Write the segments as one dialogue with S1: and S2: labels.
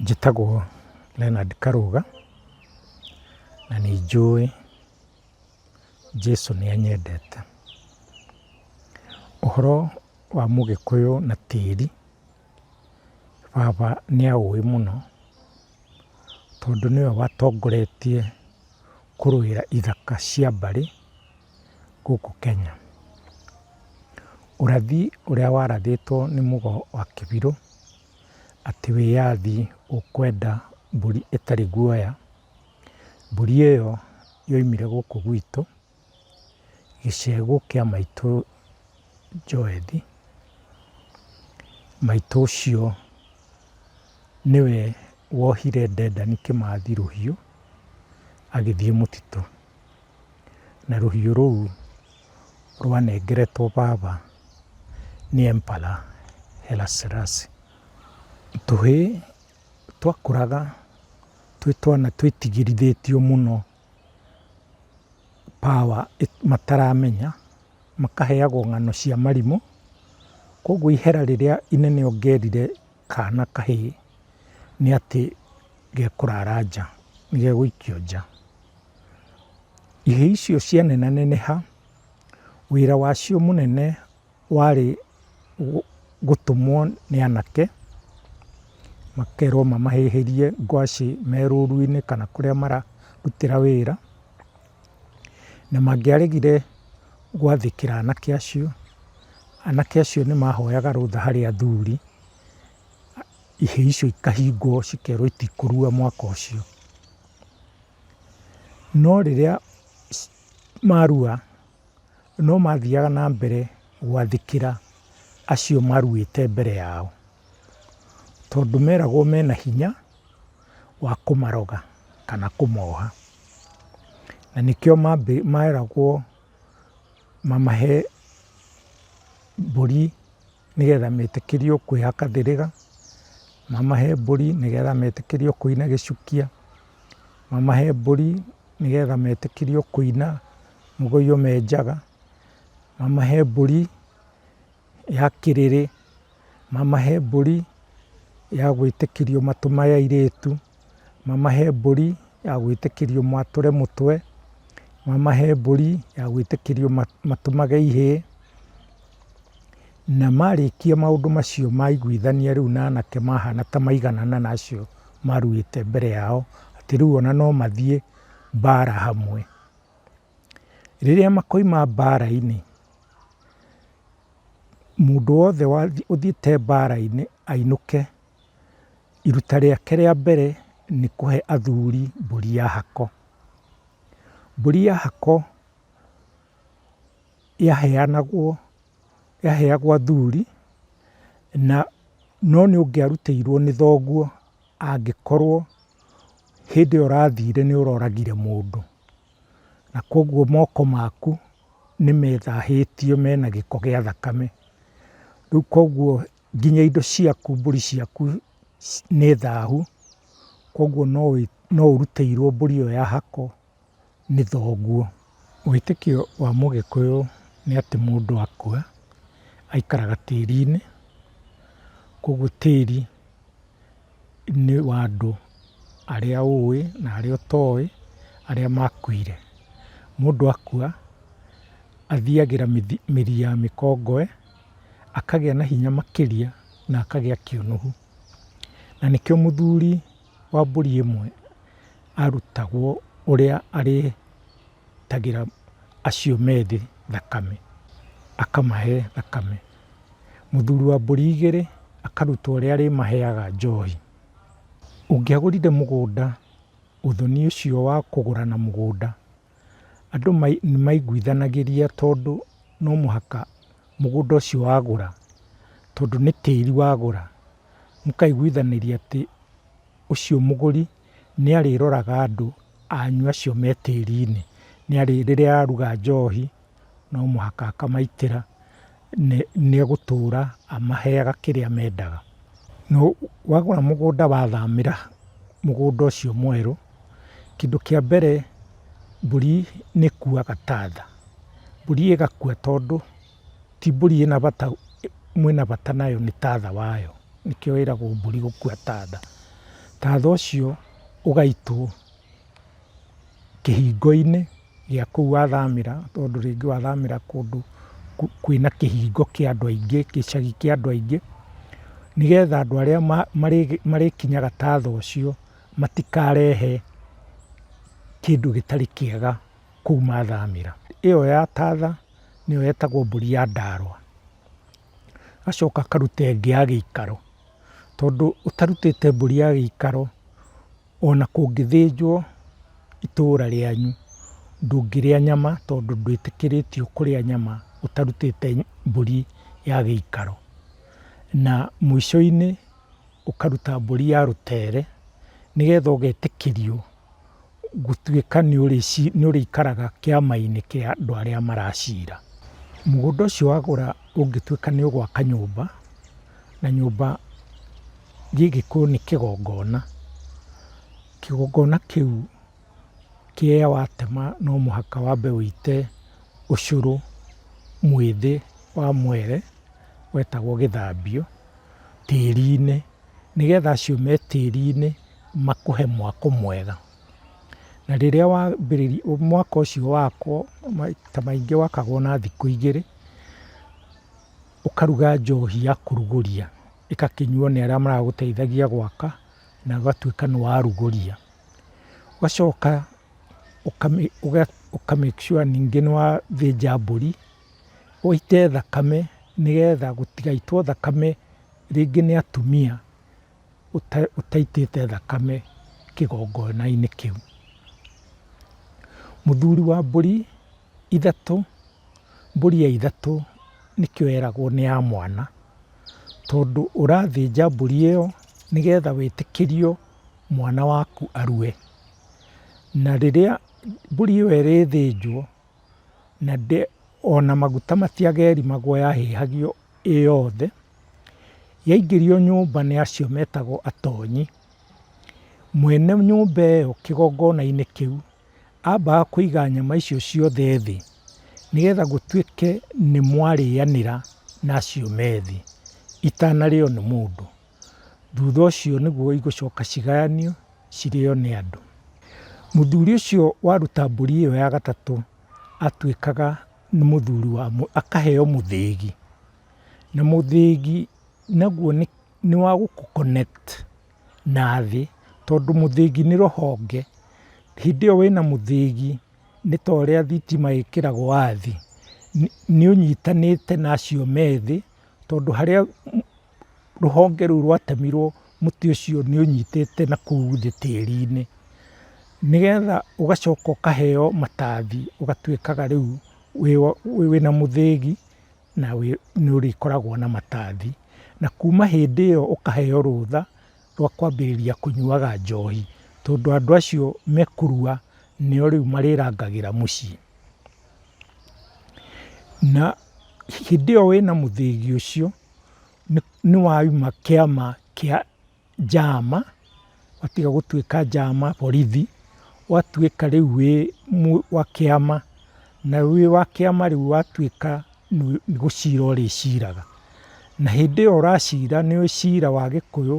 S1: Njĩtagwo Leonard Karũga, na nĩ njũĩ Jesũ nĩ anyendete. Ũhoro wa mũgĩkũyũ na tĩri, baba nĩ aũĩ mũno tondũ nĩwe watongoretie kũrũĩra ithaka cia mbarĩ gũkũ Kenya. Ũrathi ũrĩa warathĩtwo nĩ mũgo wa kĩbirũ. atĩ wĩyathi ũkwenda mbũri ĩtarĩ guoya, mbũri ĩyo yoimire gũkũ gwitũ, gĩcegũ kĩa maitũ Joeli. Maitũ ũcio nĩwe wohire Dedan Kĩmathi rũhiũ, agĩthiĩ mũtitũ. Na rũhiũ rũu rwanengeretwo baba n'Empara Haile Selassie. Tũhĩĩ twakũraga twĩ twana twĩtigĩrithĩtio mũno power mataramenya, makaheagwo ng'ano cia marimũ, koguo ihera rĩrĩa inene ũngĩerire. Kaana kahĩĩ nĩ atĩ gekũrara nja, nĩ gegũikio nja. Ihĩĩ icio cia nena neneha, wĩra wacio mũnene warĩ gũtũmwo nĩ anake, makerwo mamahĩhĩrie ngwacĩ me rũru-inĩ kana kũrĩa mararutĩra wĩra. na mangĩaregire gwathĩkĩra anake acio, anake acio nĩ mahoyaga rũtha harĩ athuri, ihĩĩ icio ikahingwo cikerwo itikũrua mwaka ũcio. No rĩrĩa marua, no mathiaga na mbere gwathĩkĩra acio maruĩte mbere yao, tondũ meragwo mena hinya. wa kũmaroga kana kũmoha. Na nĩkĩo meragwo mamahe mbũri nĩgetha metĩkĩrio kwĩhaka ndĩrĩga, mamahe mbũri nĩgetha metĩkĩrio kũina gĩcukia, mamahe mbũri nĩgetha metĩkĩrio kũina mũgũyũ me njaga, mamahe mbũri... ya kĩrĩrĩ, mamahe mbũri ya gwĩtĩkĩrio matũ ma airĩtu, mamahe mbũri ya gwĩtĩkĩrio matũre mũtwe, mamahe mbũri ya gwĩtĩkĩrio matũmage ihĩĩ, na marĩkia maũndũ macio maiguithania rĩu na anake mahana ta maiganana na acio maruĩte mbere yao, atĩ rĩu ona no mathiĩ mbara hamwe. Rĩrĩa makoima mbara-inĩ, mũndũ wothe ũthiĩte mbara-inĩ ainũke, iruta rĩake rĩa mbere nĩ kũhe athuri mbũri ya hako. Mbũri ya hako yaheanagwo, yaheagwo athuri, na no nĩ ũngĩarutĩirwo nĩ thoguo angĩkorwo hĩndĩ ĩyo ũrathire nĩ ũroragire mũndũ. na kwoguo moko maku nĩ methahĩtio mena gĩko gĩa thakame. Rĩu kwoguo nginya indo ciaku, mbũri ciaku nĩ thahu, kwoguo no ũrutĩirwo mbũri ĩyo ya hako nĩ thoguo. Wĩtĩkio wa mũgĩkũyũ nĩ atĩ mũndũ akua aikaraga tĩri-inĩ, kwoguo tĩri... nĩ wa andũ arĩa ũĩ na arĩa ũtoĩ arĩa makuire. Mũndũ akua athiagĩra mĩri ya mĩkongowe akagĩa na hinya makĩria na akagĩa kĩũnũhu. Na nĩkĩo mũthuri wa mbũri ĩmwe arutagwo ũrĩa arĩitagĩra acio methĩ thakame, akamahe thakame. mũthuri wa mbũri igĩrĩ akaruta ũrĩa arĩmaheaga njohi. Ũngĩagũrire mũgũnda ũthoni ũcio wa kũgũra na mũgũnda, andũ nĩ maiguithanagĩria tondũ no mũhaka mũgũnda ũcio wagũra, tondũ nĩ tĩri wagũra, mũkaiguithanĩria atĩ ũcio mũgũri nĩ arĩroraga andũ anyu acio me tĩri-inĩ, rĩrĩa aruga njohi no mũhaka akamaitĩra, nĩ egũtũra amaheaga kĩrĩa mendaga. Wagũra mũgũnda wathamĩra mũgũnda ũcio mwerũ, kĩndũ kĩa mbere mbũri nĩ ĩkuaga ta nda, mbũri ĩgakua tondũ ti mbũri ĩna bata, mwĩna bata nayo nĩ tatha wayo, nĩkĩo ĩragwo mbũri gũkua ta nda. Tatha ũcio ũgaitwo kĩhingo-inĩ. gĩa kũu wathamĩra, tondũ rĩngĩ wathamĩra kũndũ kwĩna kĩhingo kĩa andũ aingĩ, gĩcagi kĩa andũ aingĩ, nĩgetha andũ arĩa marĩkinyaga ta thaa ũcio matikarehe kĩndũ gĩtarĩ kĩega kũu mathamĩra. Ĩyo ya ta thaa nĩyo ĩtagwo mbũri ya ndaarwa. Agacoka akaruta ĩngĩ ya gĩikaro, tondũ ũtarutĩte mbũri ya gĩikaro... Ona kũngĩthĩnjwo itũra rĩanyu ndũngĩrĩa nyama tondũ ndwĩtĩkĩrĩtio kũrĩa nyama ũtarutĩte mbũri ya gĩikaro. Na mũico-inĩ ũkaruta mbũri ya rũtere nĩgetha ũgetĩkĩrio gũtuĩka nĩũrĩikaraga kĩama-inĩ kĩa andũ arĩa maracira. Mũgũnda ũcio wagũra ũngĩtuĩka nĩũgwaka nyũmba. Na nyũmba gĩgĩkũyũ nĩ kĩgongona, kĩgongona kĩu kĩrĩa watema no mũhaka wambe wĩite ũcũrũ mwĩthĩ wa mwere wetagwo gĩthambio tĩri-inĩ, nĩgetha acio me tĩri-inĩ makũhe mwako mwega. Na rĩrĩa wambĩrĩria mwako ũcio wakwo maita maingĩ wakagwo na thikũ igĩrĩ. ũkaruga njohi ya kũrugũria ĩgakĩnyuo nĩ arĩa maragũteithagia gwaka na ũgatuĩka nĩ warugũria. Ũgacoka ũka make sure ningĩ nĩ wathĩnja mbũri ũite thakame nĩgetha gũtigaitwo thakame rĩngĩ nĩ atumia ũtaitĩte thakame kĩgongona-inĩ kĩu. Mũthuri wa mbũri... ithatũ, mbũri ya ithatũ nĩkĩo yeragwo nĩ ya mwana, tondũ ũrathĩnja mbũri ĩyo nĩgetha wĩtĩkĩrio mwana waku arue. Na rĩrĩa mbũri ĩyo ĩrĩthĩnjwo, na ona maguta matiagerimagwo yahĩhagio ĩ yothe, yaingĩrio nyũmba nĩ acio metagwo atonyi, mwene nyũmba ĩyo kĩgongona-inĩ kĩu ambaga kũiga nyama icio ciothe thĩ, nĩgetha gũtuĩke nĩ mwarĩanĩra na acio me thĩ itanarĩo nĩ mũndũ. Thutha ũcio nĩguo igũcoka cigayanio cirĩo nĩ andũ. Mũthuri ũcio waruta mbũri ĩyo ya gatatũ atuĩkaga nĩ mũthuri wa, akaheo mũthĩgi. Na mũthĩgi naguo nĩ wa gũkũ connect. na thĩ, tondũ mũthĩgi nĩ rũhonge. Hĩndĩ ĩyo wĩna mũthĩgi nĩ ta ũrĩa thitima ĩkĩragwo wathi, nĩ ũnyitanĩte na acio me thĩ, tondũ harĩa rũhonge rũu rwatemirwo mũtĩ ũcio nĩ ũnyitĩte na kũu thĩ tĩri-inĩ. Nĩgetha ũgacoka ũkaheo matathi ũgatuĩkaga rĩu wĩna mũthĩgi. na nĩ ũrĩkoragwo na matathi. Na kuma hĩndĩ ĩyo ũkaheo rũtha rwa kwambĩrĩria kũnyuaga njohi, tondũ andũ acio mekũrua nĩo rĩu marĩrangagĩra mũciĩ. Na hĩndĩ ĩyo wĩna mũthĩgi ũcio nĩ wauma kĩama kĩa njama, watiga gũtuĩka njama, borithi, ũgatuĩka rĩu wĩ wa kĩama, na wĩ wa kĩama rĩu ũgatuĩka nĩ gũcira ũrĩciraga. Na hĩndĩ ĩyo ũracira nĩ cira wa Gĩkũyũ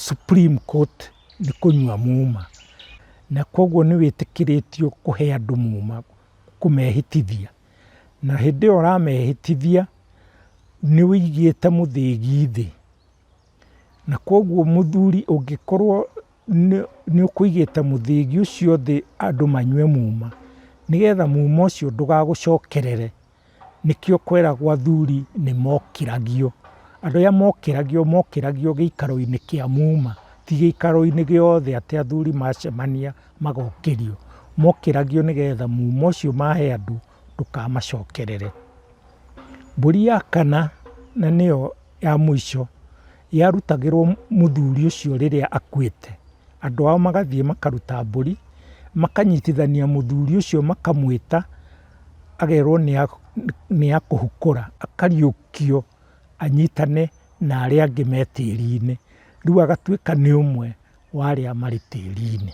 S1: Supreme Court nĩ kũnyua muma. Na kũguo nĩ wĩtĩkĩrĩtio kũhe andũ muma, kũmehĩtithia. Na hĩndĩ ĩyo ũramehĩtithia nĩ ũigĩte mũthĩgi thĩ. Na koguo mũthuri ũngĩkorwo nĩ ũkũigĩte mũthĩgi ũcio thĩ andũ manyue muma, nĩgetha muma ũcio ndũgagũcokerere, nĩkĩo kweragwo athuri nĩ mokĩragio. Andũ arĩa mokĩragio, mokĩragio gĩikaro-inĩ kĩa muma, ti gĩikaro-inĩ gĩothe atĩ athuri macemania magokĩrio. Mokĩragio nĩgetha muma ũcio mahe andũ. ndũkamacokerere. Mbũri ya kana na nĩyo ya mũico yarutagĩrwo mũthuri ũcio rĩrĩa akuĩte, andũ ao magathiĩ makaruta mbũri, makanyitithania mũthuri ũcio makamwĩta, agerwo nĩ akũhukũra, akariũkio anyitane na arĩa angĩ me tĩri-inĩ, rĩu agatuĩka nĩ ũmwe wa arĩa marĩ tĩri-inĩ.